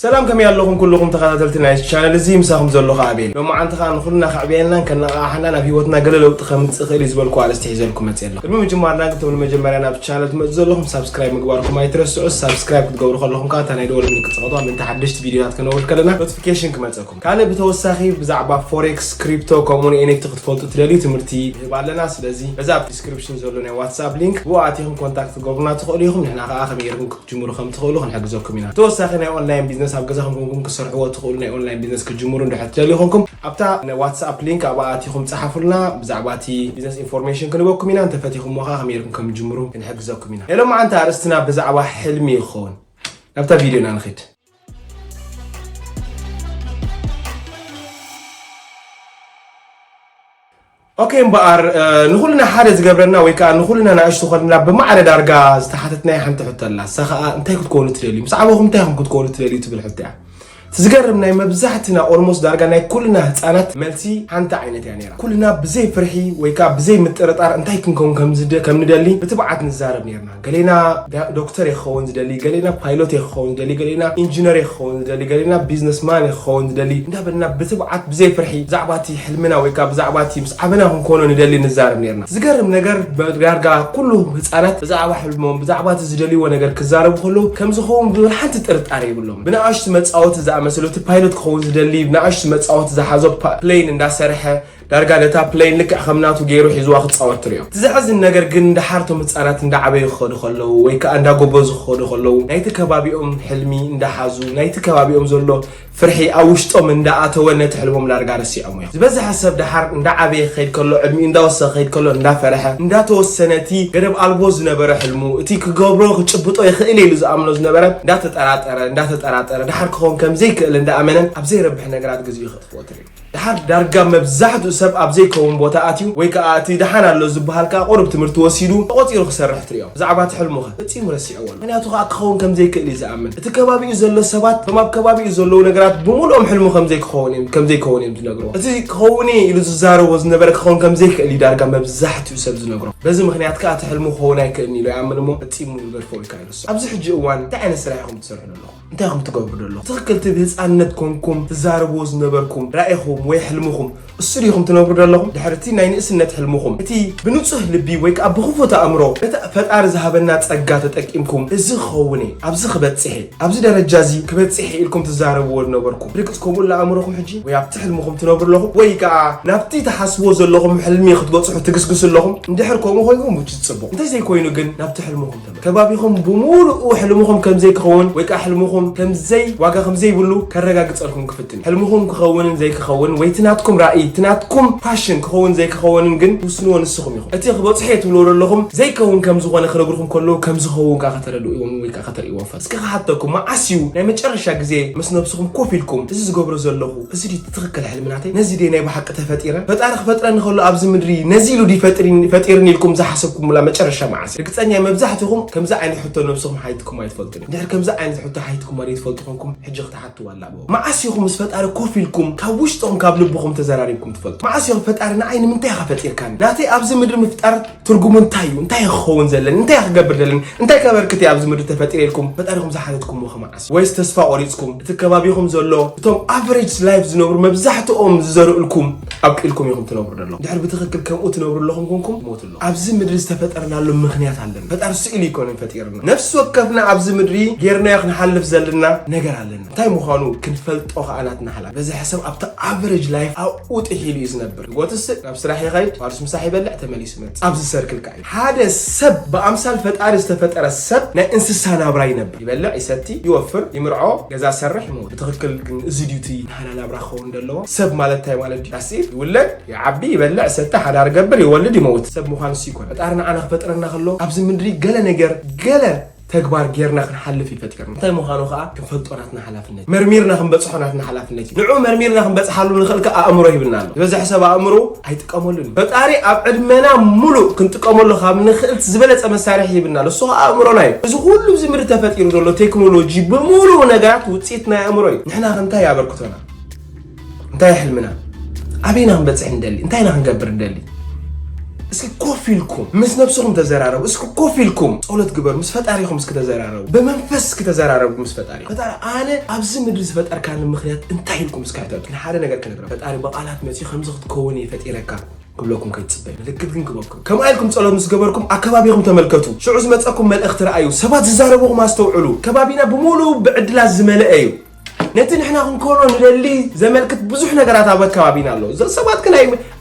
ሰላም ከመይ ኣለኹም ኩልኹም ተኸታተልቲ ናይ ቻነል እዚ ምሳኹም ዘለኹ ኣቤል ሎማዓንቲ ከዓ ንኹልና ከዕብየናን ከነቓቕሓናን ኣብ ሂወትና ገለ ለውጢ ከምፅእ ይኽእል እዩ ዝበልኩ ኣርእስቲ ሒዘልኩም መፅእ ኣለኹ ቅድሚ ምጅማርና ግን እቶም ንመጀመርያ ናብ ቻነል ትመፁ ዘለኹም ሳብስክራይብ ምግባርኩም ኣይትረስዑ ሳብስክራይብ ክትገብሩ ከለኹም ከዓ እታ ናይ ደወል ምልክት ፅቐቷ ምእንቲ ሓደሽቲ ቪድዮታት ከነውርድ ከለና ኖቲፊኬሽን ክመፀኩም ካልእ ብተወሳኺ ብዛዕባ ፎሬክስ፣ ክሪፕቶ ከምኡ ውን ኤንኤፍቲ ክትፈልጡ እትደልዩ ትምህርቲ ንህብ ኣለና። ስለዚ በዚ ኣብ ዲስክሪፕሽን ዘሎ ናይ ዋትስኣፕ ሊንክ ብኡ ኣቲኹም ኮንታክት ክትገብሩና ትኽእሉ ኢኹም። ንሕና ከኣ ከመይ ጌርኩም ክትጅምሩ ከም ትኽእሉ ክንሕግዘኩም ኢና። ብተወሳኺ ናይ ኦንላይን ቢዝነስ ኣብ ገዛኹም ኮንኩም ክትሰርሕዎ እትኽእሉ ናይ ኦንላይን ቢዝነስ ክትጅምሩ እንድሕር ትደልዩ ኮንኩም ኣብታ ናይ ዋትስኣፕ ሊንክ ኣብኣ ኣቲኹም ጸሓፉልና። ብዛዕባ እቲ ቢዝነስ ኢንፎርሜሽን ክንህበኩም ኢና። እንተ ፈቲኹምዎ ከኣ ከመይ ጌርኩም ከም ትጅምሩ ክንሕግዘኩም ኢና። ናይ ሎምዓንቲ ኣርእስትና ብዛዕባ ሕልሚ ይኸውን። ናብታ ቪድዮና ንኺድ። ኦኬ እምበኣር ንኹልና ሓደ ዝገብረና ወይ ከዓ ንኹልና ናእሽቱ ኮይንና ብማዕረ ዳርጋ ዝተሓተትናይ ሓንቲ ሕቶ ኣላ እሳ ከዓ እንታይ ክትኮኑ ትደልዩ ምስ ዓበኹም እንታይ ኹም ክትኮኑ ትደልዩ ትብል ሕቶ እያ ትዝገርም ናይ መብዛሕትና ኦልሞስ ዳርጋ ናይ ኩልና ህፃናት መልሲ ሓንቲ ዓይነት እያ ነራ ኩልና ብዘይ ፍርሒ ወይ ከዓ ብዘይ ምጥርጣር እንታይ ክንከውን ከም ንደሊ ብትብዓት ንዛረብ ነርና ገሌና ዶክተር እየ ክኸውን ዝደሊ፣ ገሌና ፓይሎት እየ ክኸውን ዝደሊ፣ ገሌና ኢንጂነር እየ ክኸውን ዝደሊ፣ ገሌና ቢዝነስማን እየ ክኸውን ዝደሊ እንዳበልና ብትብዓት ብዘይ ፍርሒ ብዛዕባ እቲ ሕልምና ወይ ከኣ ብዛዕባ እቲ ምስ ዓበና ክንኮኖ ንደሊ ንዛረብ ኔርና። ዝገርም ነገር ዳርጋ ኩሉ ህጻናት ብዛዕባ ሕልሞም ብዛዕባ እቲ ዝደልይዎ ነገር ክዛረቡ ከለዉ ከም ዝኸውን ብዝብል ሓንቲ ጥርጣረ የብሎምን። ብናኣሽቱ መጻወቲ ዝኣመሰሉ እቲ ፓይሎት ክኸውን ዝደሊ ብናኣሽቱ መጻወቲ ዝሓዞ ፕለይን እንዳሰርሐ ዳርጋ ነታ ፕለይን ልክዕ ከም ናቱ ገይሩ ሒዝዋ ክጻወት ትሪኦ። እቲ ዘሕዝን ነገር ግን ደሓር እቶም ህጻናት እንዳዓበዩ ክኸዱ ከለዉ ወይ ከኣ እንዳጎበዙ ክኸዱ ከለዉ ናይቲ ከባቢኦም ሕልሚ እንዳሓዙ ናይቲ ከባቢኦም ዘሎ ፍርሒ ኣብ ውሽጦም እንዳኣተወ ነቲ ሕልሞም ዳርጋ ረሲዖሞ እዮም። ዝበዝሐ ሰብ ደሓር እንዳዓበየ ክኸይድ ከሎ ዕድሚኡ እንዳወሰኸ ክኸይድ ከሎ እንዳፈረሐ እንዳተወሰነ እቲ ገደብ ኣልቦ ዝነበረ ሕልሙ እቲ ክገብሮ ክጭብጦ ይኽእል እየ ኢሉ ዝኣምኖ ዝነበረ እንዳተጠራጠረ እንዳተጠራጠረ ደሓር ክኸውን ከም ዘይክእል እንዳኣመነ ኣብ ዘይረብሕ ነገራት ግዚኡ ከጥፍኦ ትሪኦ። ደሓር ዳርጋ መብዛሕትኡ ሰብ ኣብ ዘይከውን ቦታ ኣትዩ ወይ ከኣ እቲ ደሓን ኣሎ ዝበሃል ከኣ ቁሩብ ትምህርቲ ወሲዱ ተቖጺሩ ክሰርሕ ትርእዮ። ብዛዕባ እቲ ሕልሙ ከ? ፈጺሙ ረሲዕዎ ኣሎ። ምኽንያቱ ከኣ ክኸውን ከም ዘይክእል እዩ ዝኣምን። እቲ ከባቢኡ ዘሎ ሰባት እቶም ኣብ ከባቢኡ ዘለዉ ነገራት ብምሉኦም ሕልሙ ከም ዘይክኸውን እዮም ከም ዘይከውን እዮም ዝነግርዎ። እቲ ክኸውን እየ ኢሉ ዝዛረቦ ዝነበረ ክኸውን ከም ዘይክእል እዩ ዳርጋ መብዛሕትኡ ሰብ ዝነግሮ። በዚ ምኽንያት ከኣ እቲ ሕልሙ ክኸውን ኣይክእልን ኢሉ ይኣምን እሞ ፈጺሙ ይገድፎ ወይ ከኣ ይርስዖ። ኣብዚ ሕጂ እዋን እንታይ ዓይነት ስራሕ ኢኹም ትሰርሑ ዘለኹም? እንታይ ኢኹም ትገብሩ ደለኹም? ትኽክል እቲ ብህፃንነት ኮንኩም ትዛረብዎ ዝነበርኩም ራእይኹም ወይ ሕልምኹም እሱ ዲኹም ትነብሩ ደለኹም? ድሕሪ እቲ ናይ ንእስነት ሕልምኹም እቲ ብንፁህ ልቢ ወይ ከዓ ብኽፉት ኣእምሮ እቲ ፈጣሪ ዝሃበና ፀጋ ተጠቂምኩም እዚ ክኸውን እየ፣ ኣብዚ ክበፅሕ እየ፣ ኣብዚ ደረጃ እዚ ክበፅሕ እየ ኢልኩም ትዛረብዎ ዝነበርኩም ብርግፅ ከምኡ ኣሎ ኣእምሮኹም ሕጂ? ወይ ኣብቲ ሕልምኹም ትነብሩ ኣለኹም ወይ ከዓ ናብቲ ትሓስብዎ ዘለኹም ሕልሚ ክትበፅሑ ትግስግሱ ኣለኹም? እንድሕር ከምኡ ኮይንኩም ውች ፅቡቕ እንተዘይኮይኑ ግን ናብቲ ሕልምኹም ከባቢኹም ብምሉኡ ሕልምኹም ከም ዘይክኸውን ወይ ከኣ ሕልምኹም ከም ዘይ ዋጋ ከም ዘይብሉ ከረጋግጸልኩም ክፍትን ሕልምኹም ክኸውንን ዘይክኸውን ወይ እቲ ናትኩም ራኢ እቲ ናትኩም ፓሽን ክኸውን ዘይክኸውንን ግን ትውስንዎ ንስኹም ኢኹም እቲ ክበጽሖ እየ ትብልዎ ዘለኹም ዘይከውን ከም ዝኾነ ክነግርኩም ከለዉ ከም ዝኸውን ከኣ ከተረድእዎም ወይ ከኣ ከተርእይዎም ፈትስ እስኪ ክሓተኩም መዓስ እዩ ናይ መጨረሻ ግዜ ምስ ነብስኹም ኮፍ ኢልኩም እዚ ዝገብሮ ዘለኹ እዚ ትኽክል ሕልሚ ናተይ ነዚ ደይ ናይ ብሓቂ ተፈጢረ ፈጣሪ ክፈጥረኒ ከሎ ኣብዚ ምድሪ ነዚ ኢሉ ድዩ ፈጢርኒ ኢልኩም ዝሓሰብኩምላ መጨረሻ መዓስ እዩ ርግፀኛ መብዛሕትኹም ከምዚ ዓይነት ሕቶ ነብስኹም ሓይትኩም ኣይትፈልጡን ድሕሪ ከምዚ ዓይነት ሕቶ ሓይትኩም ወደ ትፈልጡ ኮንኩም ሕጂ ክትሓትዋ ኣላቦ መዓስ ኢኹም ምስ ፈጣሪ ኮፍ ኢልኩም ካብ ውሽጥኹም ካብ ልብኹም ተዘራሪብኩም ትፈልጡ መዓስ እዮም ፈጣሪ ንዓይ ንምንታይ ኢኻ ፈጢርካኒ ናተይ ኣብዚ ምድሪ ምፍጣር ትርጉሙ እንታይ እዩ እንታይ ክኸውን ዘለኒ እንታይ ክገብር ዘለኒ እንታይ ከበርክት እየ ኣብዚ ምድሪ ተፈጢረ ኢልኩም ፈጣሪኹም ዝሓተትኩምዎ ከመዓስ ወይስ ተስፋ ቆሪጽኩም እቲ ከባቢኹም ዘሎ እቶም ኣቨሬጅ ላይፍ ዝነብሩ መብዛሕትኦም ዝዘርእልኩም ኣብቂልኩም ኢኹም ትነብሩ ደለኹም ድሕር ብትኽክል ከምኡ ትነብሩ ኣለኹም ኮንኩም ሞት ኣሎ ኣብዚ ምድሪ ዝተፈጠርናሉ ምኽንያት ኣለና ፈጣሪ ስኢሉ ይኮነ ፈጢርና ነፍሲ ወከፍና ኣብዚ ምድሪ ጌርናዮ ክንሓልፍ ዘለና ነገር ኣለና እንታይ ምዃኑ ክንፈልጦ ከዓ ናትና ሓላፍ በዚ ሕሰብ ኣብቲ ኣቨሬጅ ላይፍ ኣብኡ ጥሒሉ እዩ ዝነብር ጎትስእ ናብ ስራሕ ይኸይድ ፋርስ ምሳሕ ይበልዕ ተመሊሱ መፅ ኣብዚ ሰርክል ከዓ ሓደ ሰብ ብኣምሳል ፈጣሪ ዝተፈጠረ ሰብ ናይ እንስሳ ናብራ ይነብር፣ ይበልዕ፣ ይሰቲ፣ ይወፍር፣ ይምርዖ፣ ገዛ ዝሰርሕ፣ ይመውት። ብትኽክል ግን እዚ ድዩ እቲ ናህና ናብራ ክኸውን ዝደለዎ? ሰብ ማለት እንታይ ማለት ድዩ? ዳትስ ኢት። ይውለድ፣ ይዓቢ፣ ይበልዕ፣ ይሰቲ፣ ሓዳር ይገብር፣ ይወልድ፣ ይመውት። ሰብ ምዃን እሱ ኣይኮነን። ፈጣሪ ንዓና ክፈጥረና ከሎ ኣብዚ ምድሪ ገለ ነገር ገለ ተግባር ጌርና ክንሓልፍ እዩ ፈጢርና። እንታይ ምዃኑ ከኣ ክንፈልጦ ናትና ሓላፍነት እዩ። መርሚርና ክንበጽሖ ናትና ሓላፍነት እዩ። ንዕኡ መርሚርና ክንበጽሓሉ ንኽእል ከኣ ኣእምሮ ሂብና ኣሎ። ዝበዝሐ ሰብ ኣእምሮኡ ኣይጥቀመሉን እዩ። ፈጣሪ ኣብ ዕድመና ምሉእ ክንጥቀመሉ ካብ ንኽእል ዝበለጸ መሳርሒ ሂብና ኣሎ። እሱ ከኣ ኣእምሮና እዩ። እዚ ኩሉ ኣብዚ ምድሪ ተፈጢሩ ዘሎ ቴክኖሎጂ ብምሉኡ ነገራት ውጽኢት ናይ ኣእምሮ እዩ። ንሕናኸ እንታይ እዩ ኣበርክቶና? እንታይ ሕልምና ኣበይና ክንበፅሕ ንደሊ እንታይ ኢና ክንገብር ንደሊ እስኪ ኮፍ ኢልኩም ምስ ነብስኹም ተዘራረቡ እስኪ ኮፍ ኢልኩም ፀሎት ግበሩ ምስ ፈጣሪኹም እስኪ ተዘራረቡ ብመንፈስ እስኪ ተዘራረቡ ምስ ፈጣሪ ፈጣሪ ኣነ ኣብዚ ምድሪ ዝፈጠርካኒ ምክንያት እንታይ ኢልኩም እስኪ ኣይተቱ ንሓደ ነገር ክነግረ ፈጣሪ ብቃላት መፅኡ ከምዚ ክትከውን እየ ፈጢረካ ክብለኩም ከይትፅበ ምልክት ግን ክበኩም ከምኣ ኢልኩም ፀሎት ምስ ገበርኩም ኣከባቢኹም ተመልከቱ ሽዑ ዝመፀኩም መልእኽቲ ረኣዩ ሰባት ዝዛረቡኹም ኣስተውዕሉ ከባቢና ብምሉኡ ብዕድላት ዝመለአ እዩ ነቲ ንሕና ክንኮኖ ንደሊ ዘመልክት ብዙሕ ነገራት ኣብ ኣከባቢና ኣሎ እዞም ሰባት ግን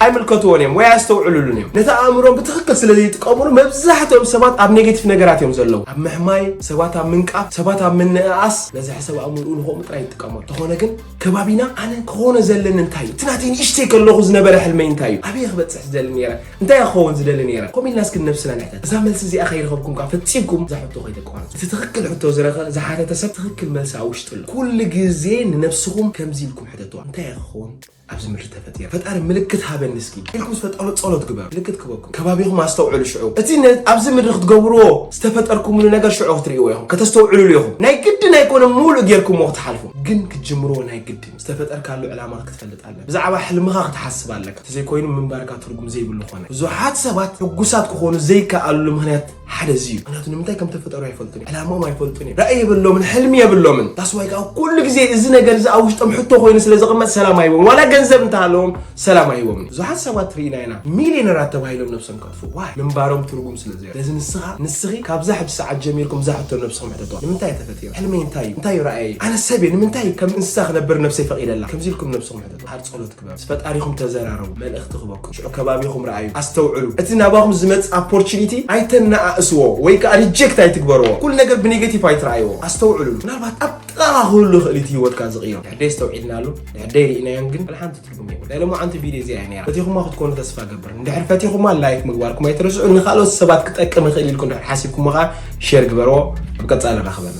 ኣይምልከትዎን እዮም ወይ ኣስተውዕሉሉን እዮም ነቲ ኣእምሮም ብትኽክል ስለ ዘይጥቀሙሉ መብዛሕትኦም ሰባት ኣብ ኔጌቲቭ ነገራት እዮም ዘለዉ ኣብ ምሕማይ ሰባት ኣብ ምንቃፍ ሰባት ኣብ ምንእኣስ በዝሒ ሰብ ኣእምርኡ ንኸምኡ ጥራይ ይጥቀመሉ እንተኾነ ግን ከባቢና ኣነ ክኾነ ዘለኒ እንታይ እዩ እቲ ናተይ ንእሽተይ ከለኹ ዝነበረ ሕልመይ እንታይ እዩ ኣበየ ክበፅሕ ዝደሊ ነይረ እንታይ እየ ክኸውን ዝደሊ ነይረ? ከምኡ ኢልና እስኪ ንነብስና ንሕተት። እዛ መልሲ እዚኣ ከይረኸብኩም ከዓ ፈጺምኩም እዛ ሕቶ ከይተቋርጹ። እቲ ትኽክል ሕቶ ዝረኸ ዝሓተተ ሰብ ትኽክል መልሲ ኣብ ውሽጢ ኣሎ። ኩሉ ግዜ ንነብስኹም ከምዚ ኢልኩም ሕተትዋ፣ እንታይ እየ ክኸውን ኣብዚ ምድሪ ተፈጢረ? ፈጣሪ ምልክት ሃበኒ እስኪ ኢልኩም ምስ ፈጣሪ ጸሎት ግበሩ። ምልክት ክህበኩም። ከባቢኹም ኣስተውዕሉ ሽዑ። እቲ ነ- ኣብዚ ምድሪ ክትገብርዎ ዝተፈጠርኩምሉ ነገር ሽዑ ክትርእይዎ ኢኹም፣ ከተስተውዕልሉ ኢኹም። ናይ ግድን ኣይኮነን ምሉእ ጌርኩምዎ ክትሓልፉ፣ ግን ክትጅምርዎ ናይ ግድን እዩ። ዝተፈጠርካሉ ዕላማ ክትፈልጥ ኣለካ። ብዛዕባ ሕልምኻ ክትሓስብ ኣለካ። ተዘይኮይኑ ምንባርካ ትርጉም ዘይብሉ ኮነ። ብዙሓት ሰባት ሕጉሳት ክኾኑ ዘይከኣልሉ ምክንያት ሓደ እዚ እዩ። ምክንያቱ ንምንታይ ከም ተፈጠሩ ኣይፈልጡን እዮም። ዕላምኦም ኣይፈልጡን እዮም። ራኢ የብሎምን፣ ሕልሚ የብሎምን። That's why ከኣ ኩሉ ግዜ እዚ ነገር እዚ ኣብ ውሽጦም ሕቶ ኮይኑ ስለ ዝቕመጥ ሰላም ኣይህቦም። ዋላ ገንዘብ እንተሃለዎም ሰላም ኣይህቦምን እዩ። ብዙሓት ሰባት ርኢና ኢና ሚልየነራት ተባሂሎም ነብሶም ፍዋይ ምንባሮም ትርጉም ስለ ዘየሎ። ስለዚ ንስኻ፣ ንስኺ ካብዛ ሕጂ ሰዓት ጀሚርኩም እዛ ሕቶ ንነብስኹም ሕተቱዋ። ንምንታይ እየ ተፈጢረ? ሕልመይ እንታይ እዩ? እንታይ እዩ ራእየይ? ኣነ ሰብ እየ ንምንታይ እዩ ከም እንስሳ ክነብር ንነብሰይ ፈቒደላ? ከምዚ ኢልኩም ንነብስኹም ሕተቱዋ። ሓር ጸሎት ግበሩ። ምስ ፈጣሪኹም ተዘራረቡ። መልእኽቲ ክበኩም። ሽዑ ከባቢኹም ርኣዩ። ኣስተውዕሉ። እቲ ናባኹም ዝመጽእ ኣፖርቹኒቲ ኣይተነኣእስዎ ወይ ከኣ ሪጀክት ኣይትግበርዎ። ኩሉ ነገር ብኔገቲቭ ኣይትርኣይዎ። ኣስተውዕሉሉ። ምናልባት ኣብ ጥቓኻ ክህሉ ይኽእል እዩ እቲ ህይወትካ ዝቕይሮ። ንሕደይ ኣስተውዒልናሉ፣ ንሕደይ ርኢናዮን ግን ዋላ ሓንቲ ናይ ሎማዓንቲ ቪድዮ እዚኣ እያ ነይራ ፈቲኹማ ክትኮኑ ተስፋ ገብር እንድሕር ፈቲኹማ ላይክ ምግባርኩም ኣይትረስዑ ንካልኦት ሰባት ክጠቅም ይኽእል ኢልኩም ድሕር ሓሲብኩሞ ከዓ ሼር ግበርዎ ኣብ ቀፃሊ ንራኽበና